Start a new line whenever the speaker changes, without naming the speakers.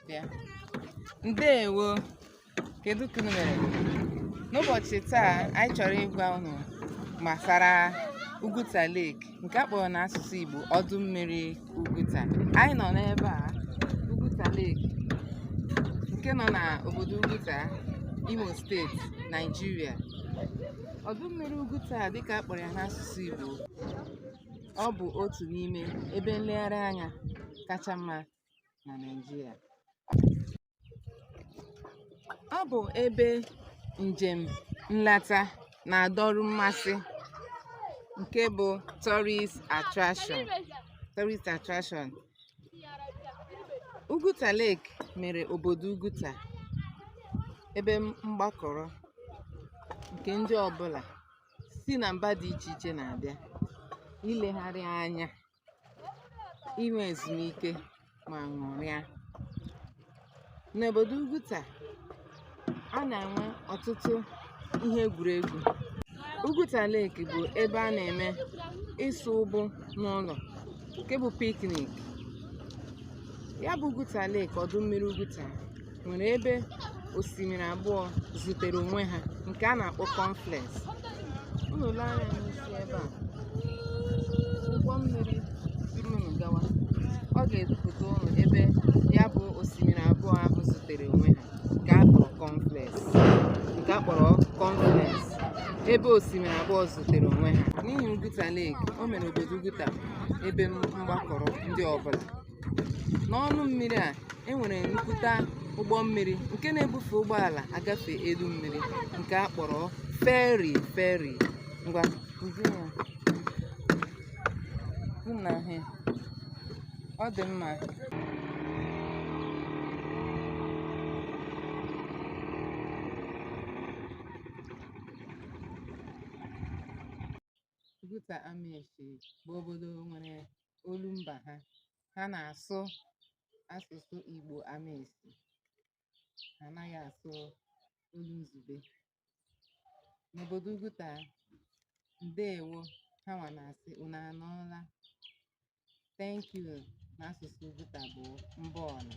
bịa ndewo kedu ka unu mere n'ụbọchị taa anyị chọrọ ịgwa unu gbasara Ugwuta Lake nke a kpọrọ n'asụsụ Igbo ọdụ mmiri Ugwuta anyị nọ n'ebe a Ugwuta Lake nke nọ n'obodo Ugwuta Imo steeti Naijiria ọdụ mmiri Ugwuta a dịka a kpọrọ ya n'asụsụ Igbo ọ bụ otu n'ime ebe nlegharị anya kacha mma na Naịjirịa. Ọ bụ ebe njem nleta na-adọrọ mmasị nke bụ tourist attraction. Ugwuta Lake mere obodo Ugwuta ebe mgbakọrọ nke ndị ọbụla si na mba dị iche iche na-abịa ilegharị anya inwe ezumike ma ṅụrịa n'obodo Ugwuta a na-enwe ọtụtụ ihe egwuregwu Ugwuta Lake bụ ebe a na-eme ịsụ ụgbụ n'ụlọ nke bụ picnic ya bụ Ugwuta Lake ọdụ mmiri Ugwuta nwere ebe osimiri abụọ zutere onwe ha nke a na-akpọ confluence unu lee anya n'isi ebe a ụgbọ mmiri buru unu gawa ọ ga-edupụta unu ebe ya bụ osimiri abụọ ahụ zutere onwe ha nke a kpọrọ confluence nke a kpọrọ confluence ebe osimiri abụọ zutere onwe ha n'ihi Ugwuta Lake o mere obodo Ugwuta ebe mgbakọrọ ndị ọbụla n'ọnụ mmiri a e nwere nnukwute ụgbọ mmiri nke na-ebufe ụgbọala agafe elu mmiri nke a kpọrọ feri feri ngwa kụzie ya. Hụ na ahụ ya. ọ dị mma Ugwuta Ameshi bụ obodo nwere olu mba ha ha na-asụ asụsụ Igbo Ameshi ha anaghị asụ olu izugbe n'obodo Ugwuta ndeewo ha nwa na-asị unu anọọla thank you n'asụsụ Ugwuta bụ mba ọnụ